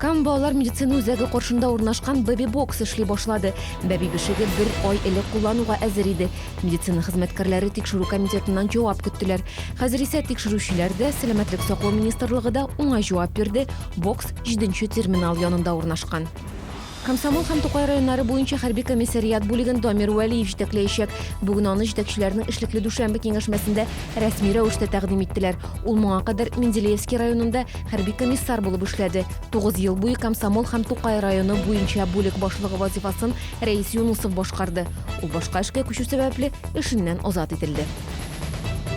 Кам балалар медицина үзәге каршында урнашкан Бэби Бокс эшли башлады. Бәби бишеге бер ай элек куллануга әзер иде. Медицина хезмәткәрләре тикшерү комитетыннан җавап көттеләр. Хәзер исә тикшерүчеләр дә, Сәламәтлек саклау министрлыгы да уңай җавап бирде, бокс җиденче терминал янында урнашкан. Комсомол һәм Тукай районнары буенча хәрби комиссариат бүлеген Дамир Вәлиев җитәкләячәк. Бүген аны җитәкчеләрнең эшлекле дүшәмбе киңәшмәсендә рәсми рәвештә тәкъдим иттеләр. Ул моңа кадәр Менделеевский районында хәрби комиссар булып эшләде. Тугыз ел буе Комсомол һәм Тукай районы буенча бүлек башлыгы вазифасын Рәис Юнусов башкарды. Ул башка эшкә күчү сәбәпле, эшеннән азат ителде.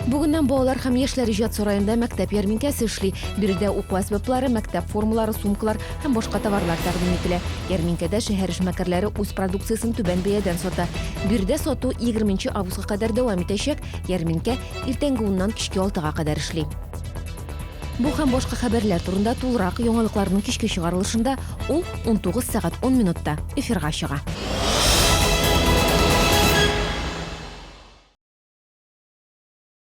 Бүгеннән балалар һәм яшьләр иҗат сараенда мәктәп ярминкәсе эшли. Биредә уку әсбаплары, мәктәп формалары, сумкалар һәм башка товарлар тәкъдим ителә. Ярминкәдә шәһәр эшмәкәрләре үз продукциясен түбән бәядән сата. Биредә сату 20 августка кадәр дәвам итәчәк. Ярминкә иртәнге уннан кичке алтыга кадәр эшли. Бу һәм башка хәбәрләр турында тулырак яңалыкларның кичке чыгарылышында, ул 19 сәгать 10 минутта эфирга чыга.